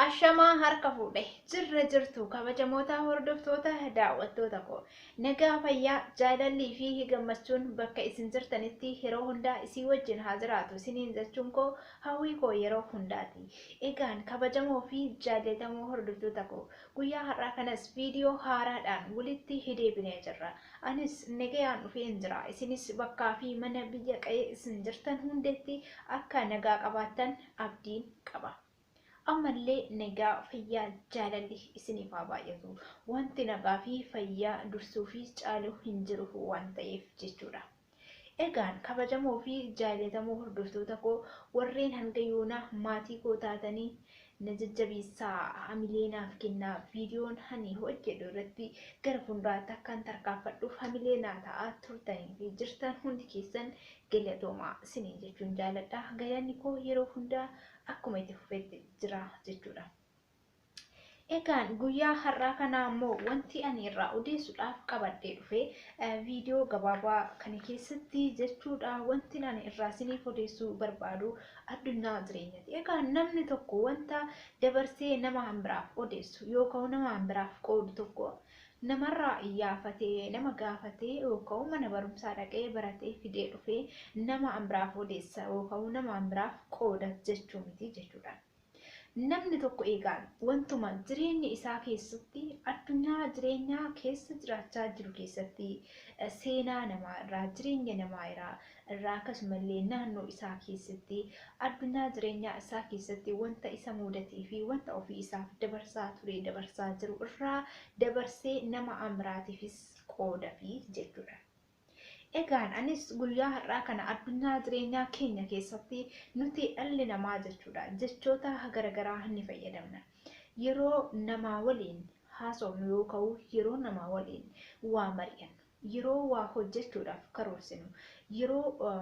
Ashamaa harka fuudhe jirra jirtu kabajamoota hordoftoota daawwattoota koo nagaa fayyaa jaalallii fi gammachuun bakka isin jirtanitti yeroo hundaa isii wajjin haa jiraatu isiniin jechuun koo hawwii koo yeroo hundaati. Egaan kabajamoo fi jaallatamoo hordoftoota koo Guyyaa har'aa kanas viidiyoo haaraadhaan walitti hideebinee jirra. Anis negayaan dhufeen jira. Isinis bakkaa fi mana biyya qa'ee isin jirtan hundeetti akka nagaa qabaattan abdiin qaba. Ammallee nagaa, fayyaa, jaalalli isiniif haa baay'atu. Wanti nagaa fi fayyaa dursuu fi caalu hin jiru waan ta'eef jechuudha. Egaan kabajamoo fi jaallatamoo hordoftoota koo warreen hanga yoonaa maatii koo taatanii na jajjabeessaa hamilee naaf kennaa viidiyoon ani hojjedhu irratti gara fuulduraatti akkan tarkaanfadhuuf hamilee naa ta'aa turtanii fi jirtan hundi keessan galatoomaa siniin jechuun jaaladha galanni koo yeroo hundaa akkuma itti fufetti jira jechuudha. Egaan guyyaa har'aa kanaa immoo wanti ani irraa odeessuudhaaf qabadhee dhufe viidiyoo gabaabaa kana keessatti jechuudha wanti ani irraa isiniif odeessuu barbaadu addunyaa jireenyati. Egaa namni tokko wanta dabarsee nama biraaf odeessu yookaan nama biraaf qoodu tokko namarraa iyyaafatee nama gaafatee yookaan mana barumsaa dhaqee baratee fidee dhufee nama biraaf odeessa yookaan nama biraaf qooda jechuu miti jechuudha. Namni tokko eegaan wantuma jireenya isaa keessatti addunyaa jireenyaa keessa jiraachaa jiru keessatti seenaa namaa irraa, jireenya namaa iraa, irraa akkasuma illee naannoo isaa keessatti addunyaa jireenyaa isaa keessatti wanta isa muudatee fi wanta ofii isaaf dabarsaa ture dabarsaa jiru irraa dabarsee nama amiraatiifis qoodafi jechuudha. Egaan anis guyyaa har'aa kana addunyaa jireenyaa keenya keessatti nuti dhalli namaa jechuudha jechoota garagaraa ni fayyadamna. Yeroo namaa waliin haasofnu yooka'u yeroo namaa waliin waa mari'annu, yeroo waa hojjechuudhaaf karoorsinu, yeroo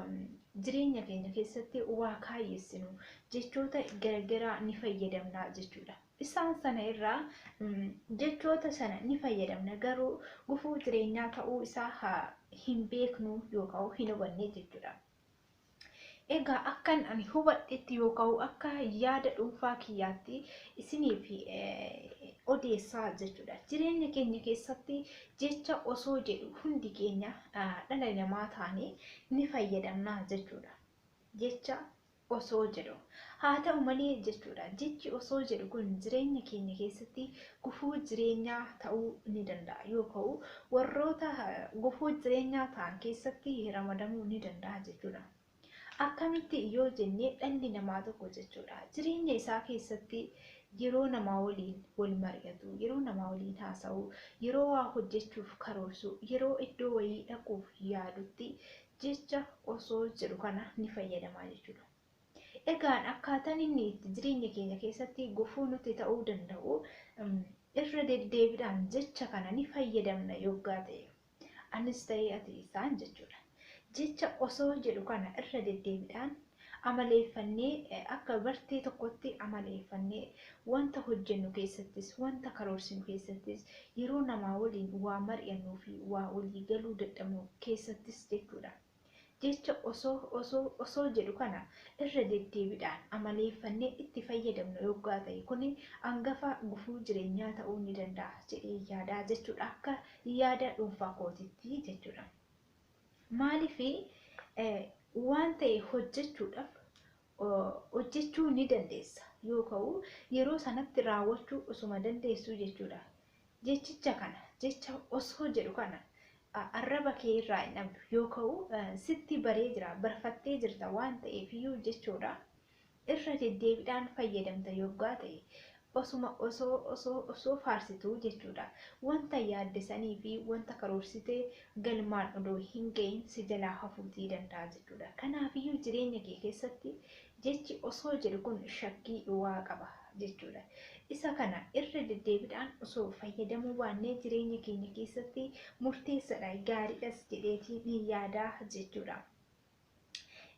jireenya keenya keessatti waa kaayyessinu jechoota garagaraa ni fayyadamna jechuudha. Isaan sana irraa jechoota sana ni fayyadamna garuu gufuu jireenyaa ta'uu isaa hin beeknu yookaan hin hubanne jechuudha. Egaa akkan ani hubadhetti yookaan akka yaada dhuunfaa kiyyaatti isiniif odeessaa jechuudha. Jireenya keenya keessatti jecha osoo jedhu hundi keenya dhala namaa taanee ni fayyadamna jechuudha. Jecha osoo jedhu. Haa ta'u malee jechuudha. Jechi osoo jedhu kun jireenya keenya keessatti gufuu jireenyaa ta'uu ni danda'a yoo ka'u warroota gufuu jireenyaa ta'an keessatti ramadamuu ni danda'a jechuudha. Akkamitti yoo jenne dhalli namaa tokko jechuudha. Jireenya isaa keessatti yeroo namaa waliin wal mari'atu, yeroo namaa waliin haasa'u, yeroo waa hojjechuuf karoorsu, yeroo iddoo wayii dhaquuf yaadutti jecha osoo jedhu kana ni fayyadama jechuudha. Egaan akkaataan inni itti jireenya keenya keessatti gufuu nutti ta'uu danda'u irra deddeebiidhaan jecha kana ni fayyadamna yoggaa ta'e. Anis ta'ee ati isaan jechuudha. Jecha osoo jedhu kana irra deddeebiidhaan amaleeffannee akka bartee tokkotti amaleeffannee wanta hojjennu keessattis wanta karoorsinu keessattis yeroo namaa waliin waa mari'annuu fi waa walii galuu dadhabnu keessattis jechuudha. Jecha osoo osoo osoo jedhu kana irra deddeebidhaan amaleeffannee itti fayyadamnu yoggaa ta'e kuni angafa gufuu jirenyaa ta'uu ni danda'a jedhee yaada jechuudha akka yaada dhuunfaa kootitti jechuudha. Maaliif waan ta'e hojjechuudhaaf hojjechuu ni dandeessa yoo ka'u yeroo sanatti raawwachuu osuma dandeessuu jechuudha. Jechicha kana jecha osoo jedhu kana arraba kee irraa hin dhabdu yoo ka'u sitti baree jira barfattee jirta waan ta'eef iyyuu jechoodha. irra deddeebidhaan fayyadamta yoggaa ta'e osuma osoo osoo osoo faarsituu jechuudha. Wanta yaadde sanii fi wanta karoorsite galmaan odoo hin ga'iin si jalaa hafuutii danda'a jechuudha. Kanaafiyyuu jireenya kee keessatti jechi osoo jedhu kun shakkii dhuwaa qaba jechuudha. Isa kana irra deddeebidhaan osoo fayyadamuu baannee jireenya keenya keessatti murteessadha, gaariidhas jedheetiin yaada jechuudha.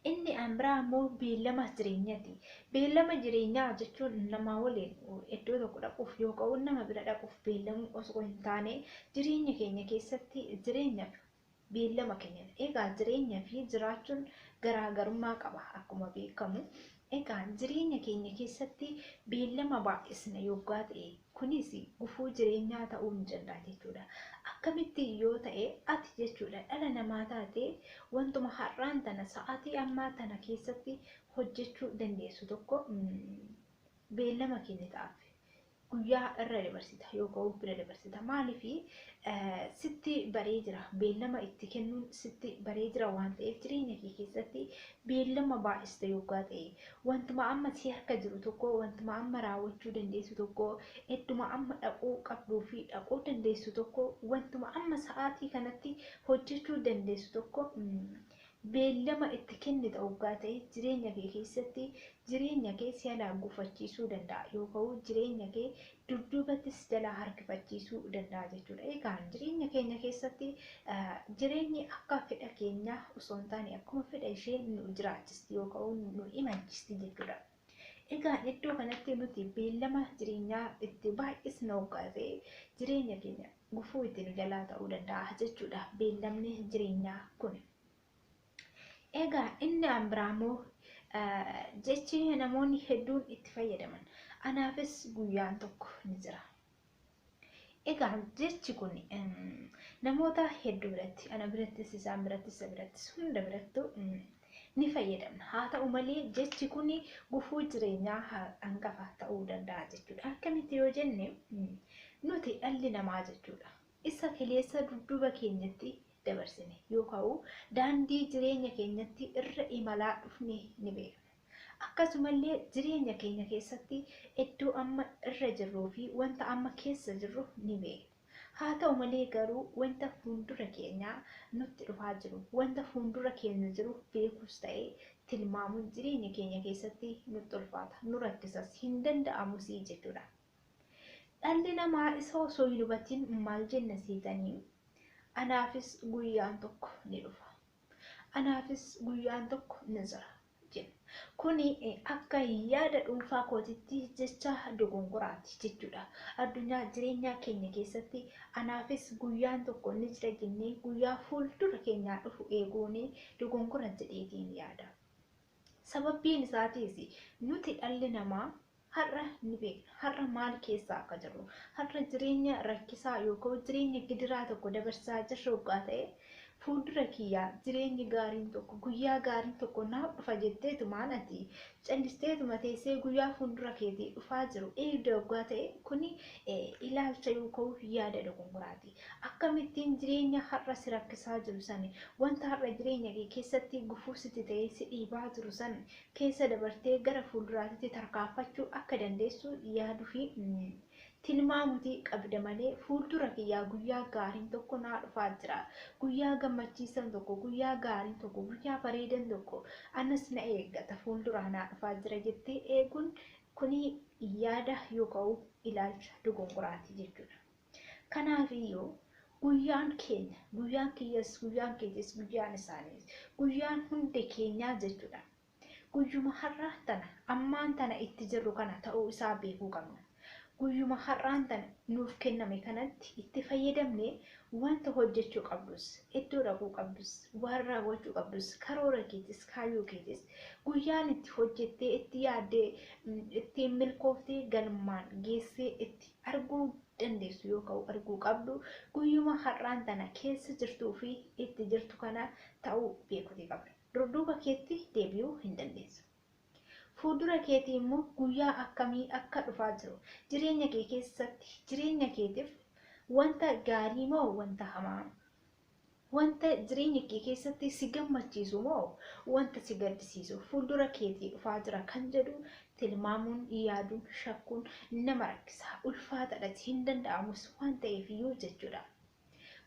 Inni an biraa immoo beellama jireenyati. Beellama jireenyaa jechuun namaa waliin iddoo tokko dhaquuf yoo ka'u nama bira dhaquuf beellamuu osoo hin taane jireenya keenya keessatti jireenya beellama keenya egaa jireenya fi jiraachuun garaagarummaa qaba akkuma beekamu Egaa jireenya keenya keessatti beellama baay'isna yoggaa ta'e kunis gufuu jireenyaa ta'uu ni danda'a jechuudha. Akkamitti yoo ta'e ati jechuudha dhala namaa taatee wantuma har'aan tana sa'aatii ammaa tana keessatti hojjechuu dandeessu tokko beellama kennitaaf. guyyaa irra dabarsita yookaan bira dabarsita maaliif sitti baree jira beellama itti kennuun sitti baree jira waan ta'eef jireenya kee keessatti beellama baay'ista yoggaa ta'e wantuma amma si harka jiru tokko wantuma amma raawwachuu dandeessu tokko idduma amma dhaquu qabduu fi dhaquu dandeessu tokko wantuma amma sa'aatii kanatti hojjechuu dandeessu tokko Beellama itti kennita oggaa ta'e jireenya kee keessatti jireenya kee si jalaa gufachiisuu danda'a yooka'u jireenya kee dudduubatti si jalaa harkifachiisuu danda'a jechuudha. Egaan jireenya keenya keessatti jireenyi akka fedha keenyaa osoo hin taane akkuma fedha ishee nu jiraachisti yooka'u nu imalchisti jechuudha. Egaan iddoo kanatti nuti beellama jireenyaa itti baay'isna hoggaa ta'e jireenya keenya gufuu itti nu jalaa ta'uu danda'a jechuudha beellamni jireenyaa kun. Egaa inni an biraa immoo jechi namoonni hedduun itti fayyadaman anaafis guyyaan tokko ni jira. Egaa jechi kun namoota hedduu biratti ana birattis isaan birattis isa birattis hunda birattu ni fayyadamna. Haa ta'u malee jechi kun gufuu jireenyaa hangafa ta'uu danda'a jechuudha. Akkamitti yoo jenne nuti dhalli namaa jechuudha. Isa kaleessa dudduuba keenyatti dabarsine yookaan daandii jireenya keenyatti irra imalaa dhufne ni beekna. Akkasumallee jireenya keenya keessatti iddoo amma irra jirruu fi wanta amma keessa jirru ni beekna. Haa ta'u malee garuu wanta fuundura keenyaa nutti dhufaa jiru, wanta fuundura keenya jiru beekuus ta'ee tilmaamuun jireenya keenya keessatti nutti ulfaata, nu rakkisas, hin danda'amusii jechuudha. Dhalli namaa isa osoo hin hubatin maal jenna seetanii? Anaafis guyyaan tokko ni dhufa. Anaafis guyyaan tokko ni jira jedhe. Kuni akka yaada dhuunfaa kootitti jecha dogongoraati jechuudha. Addunyaa jireenyaa keenya keessatti anaafis guyyaan tokko ni jira jennee guyyaa fuuldura keenyaa dhufu eeguun dogongora jedheetiin yaada. Sababbiin isaatiis nuti dhalli namaa Har'a ni beekna. Har'a maal keessa akka jirru. Har'a jireenya rakkisaa yookiin jireenya gidiraa tokko dabarsaa jirra oggaa ta'e, fuuldura kiyya jireenyi gaariin tokko, guyyaa gaariin tokko naaf dhufa jetteetumaan ati callisteetuma teessee guyyaa fuuldura keetii dhufaa jiru eegda oggaa ta'e kuni ilaalcha yookiin yaada dogongoraati. Akkamittiin jireenya har'a si rakkisaa jiru san, wanta har'a jireenya kee keessatti gufuu sitti ta'ee si dhiibaa jiru san keessa dabartee gara fuulduraatitti tarkaanfachuu akka dandeessu yaadu fi tilmaamuti qabda malee fuuldura kiyyaa guyyaa gaariin tokko naa dhufaa jira guyyaa gammachiisan tokko guyyaa gaariin tokko guyyaa bareedan tokko anas na eeggata fuulduraa naa dhufaa jira jettee eeguun kuni yaada yooka'u ilaalcha dogongoraati jechuudha. Kanaafiyyuu guyyaan keenya, guyyaan kiyyas, guyyaan keetis, guyyaan isaaniis, guyyaan hundi keenyaa jechuudha. Guyyuma har'aan tana, ammaan tana itti jirru kana ta'uu isaa beekuu qabna. Guyyuma har'aan tana nuuf kenname kanatti itti fayyadamnee wanta hojjechuu qabdus, iddoo dhaquu qabdus, waan raawwachuu qabdus, karoora keetis, kaayyoo keetis, guyyaan itti hojjettee, itti yaaddee, ittiin milkooftee galmaan geessee itti arguu dandeessu yooka'u arguu qabdu guyyuma har'aan tana keessa jirtuu fi itti jirtu kana ta'uu beekuti qabda. Durduuba keetti deebi'uu hin dandeessu. Fuuldura keetii immoo guyyaa akkamii akka dhufaa jiru jireenya kee keessatti jireenya keetiif wanta gaarii moo wanta hamaa Wanta jireenya kee keessatti si gammachiisu moo wanta si gaddisiisu fuuldura keetii dhufaa jira kan jedhu tilmaamuun, yaaduun, shakkuun nama rakkisa. Ulfaataadhas, hin danda'amus waan ta'eefiyyuu jechuudha.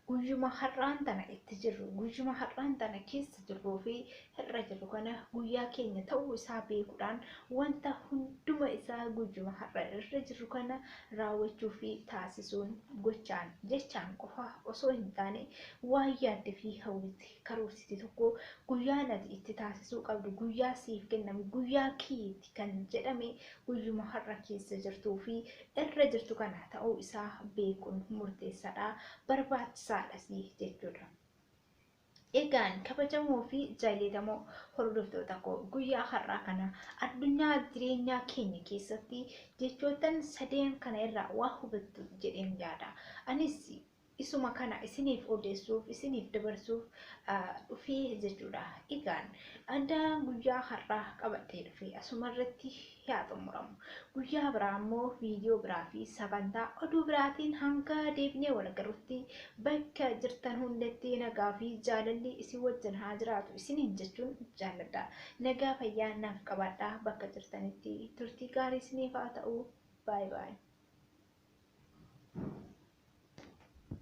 Guyyuma har'aan tana itti jirru, guyyuma har'aan tana keessa jirruu fi irra jirru kana guyyaa keenya ta'uu isaa beekuudhaan wanta hunduma isaa guyyuma har'a irra jirru kana raawwachuu fi taasisuun gochaan jechaan qofa osoo hin taane waan yaadde fi hawwite karoorsite tokko guyyaan ati itti taasisuu qabdu guyyaa siif kenname guyyaa keeti kan jedhame guyyuma har'a keessa jirtuu fi irra jirtu kana ta'uu isaa beekuun murteessaadha barbaachisaadhas jechuudha. Egaan kabajamoo fi jaallatamoo hordoftoota koo guyyaa har'aa kana addunyaa jireenyaa keenya keessatti jechoottan sadeen kana irraa waa hubattu jedheen yaada. Anis isuma kana isiniif odeessuuf isiniif dabarsuuf dhufee jechuudha. Egaan adda guyyaa har'aa qabadhee dhufee asuma irratti yaa xumuramu. Guyyaa biraa ammoo viidiyoo biraa fi sagantaa oduu biraatiin hanga deebinee wal agarrutti bakka jirtan hundatti nagaa fi jaalalli isin wajjin haa jiraatu isiniin jechuun jaalladha. Nagaa fayyaa naaf qabaadha bakka jirtanitti turtii gaarii isiniif haa ta'u. Baay baay.